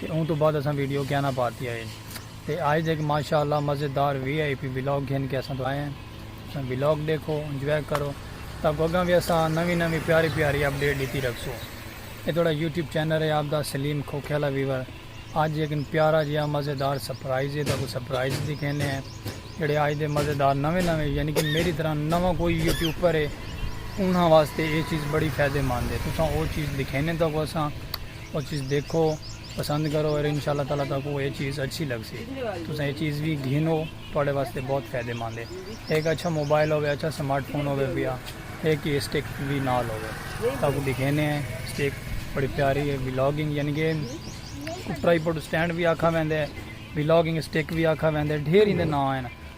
تے اوں توں بعد اساں ویڈیو کیاں نہ پاتی آئی تے آئز ہک ماشاء اللہ مزیدار وی آئی پی ولاگ گھن کے اساں توں آئے ہیں اساں ولاگ ڈیکھو انجوائے کرو تاکو اگاں وی اساں نوی نوی پیاری پیاری اپڈیٹ ڈتی رکھسو اے تہاڈا یوٹیوب چینل ہے آپ دا سلیم کھوکھے والا ویور آج ہک پیارا جیہا مزیدار سرپرائز ہے تاکو سرپرائز دکھینے ہیں جڑے آج دے مزیدار نویں نویں یعنی کہ میری طرح نواں کوئی یوٹیوبر ہے انہاں واسطے اے چیز بڑی فائدے مند ہے تساں او چیز دکھینے تاکو اساں او چیز ڈیکھو پسند کرو اور انشاءاللہ تعالی تہاکوں اے چیز اچھی لگسی تساں اے چیز وی گھنو تہاڈے واسطے بہت فائدے مند ہے ہک اچھا موبائل ہووے اچھا سمارٹ فون ہووے پیا ہک اے سٹک وی نال ہووے تہاکوں ڈکھینے ہیں سٹک بڑی پیاری ہے ولاگنگ یعنی کہ ٹرائیپوڈ سٹینڈ وی آکھا ویندے ولاگنگ سٹک وی آکھا ویندے ڈھیر ایندے ناں ہیں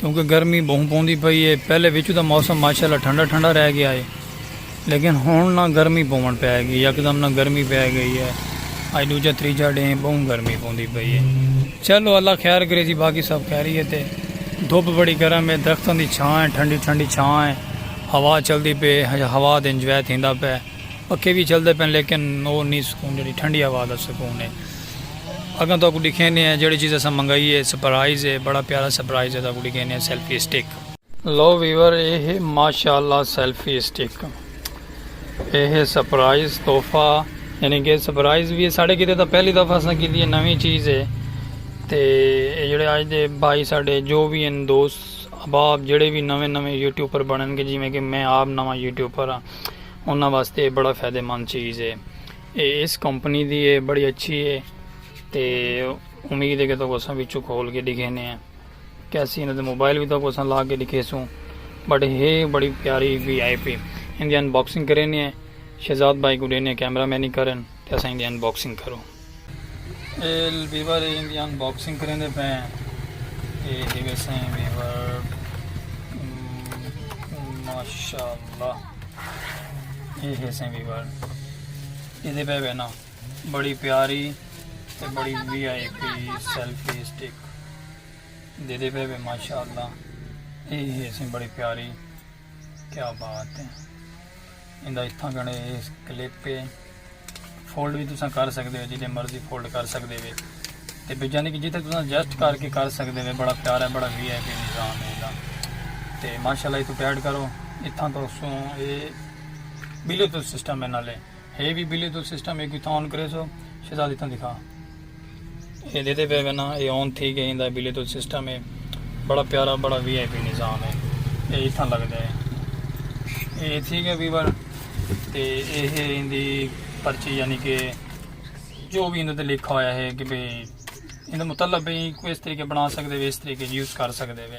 کیونکہ گرمی بہوں پوندی پئی اے، پہلے وچوں تاں موسم ماشاء اللہ ٹھنڈا ٹھنڈا رہ گیا اے لیکن ہنڑ نہ گرمی پوونڑ پے گی، یکدم نہ گرمی پے گئی اے، اج ڈوجھا تریجھا ڈینھ اے بہوں گرمی پوندی پئی اے، چلو اللہ خیر کرے جی باقی سب خیریت اے، دھپ بڑی گرم اے، درختاں دی چھاں اے، ٹھنڈی ٹھنڈی چھاں اے، ہوا چلدی پئی اے، ہوا دا انجوائے تھیندا پے، پکھے وی چلدے پئن لیکن او نی سکون جیڑھی ٹھنڈی ہوا دا سکون اے۔ اگاں تہاکوں ڈکھیندے ہیں جیہڑی چیز اساں منگائی ہے سپرائز ہے بڑا پیارا سپرائز ہے تہاکوں ڈکھیندے ہیں سیلفی اسٹک۔ لو ویور اے ہے ماشاء اللہ سیلفی اسٹک اے ہے سپرائز تحفہ یعنی کہ سپرائز وی ہے ساڈے کیتے تاں پہلی دفعہ اساں کیتی ہے نویں چیز ہے تے اے جیہڑے اج دے بھائی ساڈے جو وی ہن دوست احباب جیہڑے وی نویں نویں یوٹیوبر بنن گے جیویں کہ میں آپ نواں یوٹیوبر ہاں انہاں واسطے اے بڑا فائدہ مند چیز ہے۔ اے ایس کمپنی دی اے بڑی اچھی اے تے امید اے کہ تہاکوں اساں وچوں کھول کے ڈکھینے آں کیسی انہاں دے موبائل وی تہاکوں اساں لا کے ڈکھیسوں بٹ ہے بڑی پیاری وی آئی پی اندی ان باکسنگ کرینے آں شہزاد بھائی کوں ڈینے آں کیمرہ مینی کرن تے اساں اندی ان باکسنگ کروں۔ اے ویور اے اندی ان باکسنگ کریندے پئے آں اے ہے ویسے ویور ماشاءاللہ۔ یہ ہے سیمی وال یہ پہ بہنا بڑی پیاری تے بڑی V I P selfie stick دے دے پہ ماشاء اللہ یہ ہے سی بڑی پیاری کیا بات ہے اندہ اتھا گنے کلپ پہ فولڈ وی تساں کر سکدے ہو جتھے مرضی فولڈ کر سکدے وے تے یعنی کہ جتھے تساں ایڈجسٹ کر کے کر سکدے وے بڑا پیارا ہے بڑا وی آئی پی نظام ہے دا تے ماشاءاللہ تو ٹیڈ کرو اتھاں تو سوں اے بلیو تو سسٹم ہے نالے ہے بھی بلیو تو سسٹم ہے کوئی تھا آن کرے سو شہزادی تاں دکھا اے دیدے پئے گنا اے آن تھی گئے ایندا بلیتوت سسٹم اے بڑا پیارا بڑا وی آئی پی نظام اے اے اتھاں لگدا اے اے تھی گئے ویور تے اے ہے ایندی پرچی یعنی کہ جو بھی اندر لکھا ہویا ہے کہ بھئی اندر مطلب بھئی کوئی اس طریقے بنا سکدے وے اس طریقے یوز کر سکدے وے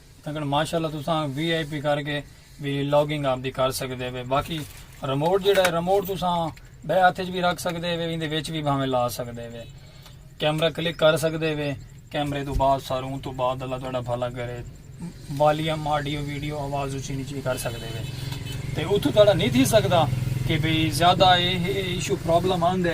اگر ماشاء اللہ تساں وی آئی پی کر کے بھی لاگنگ آپ دی کر سکدے وے باقی ریموٹ جڑا ہے ریموٹ تساں بے ہاتھ وچ بھی رکھ سکدے وے ایندے وچ بھی بھاویں لا سکدے وے کیمرہ کلک کر سکدے وے کیمرے تو بعد ساروں اون تو بعد اللہ تہاڈا بھلا کرے والیوم آڈیو ویڈیو آواز اچھی نیچی کر سکدے وے تے اتھوں تہاڈا نہیں تھی سکدا کہ بھئی زیادہ ایشو پرابلم آندے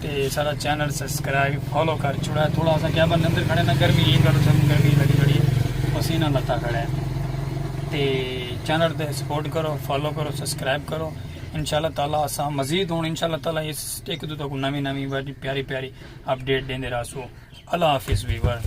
تے سارا چینل سبسکرائب فالو کر چھوڑا ہے تھوڑا سا کیا بن اندر کھڑے نا گرمی ہے گل سن گرمی لگی کھڑی ہے پسینہ لتا کھڑا ہے تے چینل تے سپورٹ کرو فالو کرو سبسکرائب کرو انشاءاللہ تعالی اسا مزید ہوں انشاءاللہ تعالی اس ایک دو تک نوی نوی پیاری پیاری اپڈیٹ دین دے راسو اللہ حافظ ویور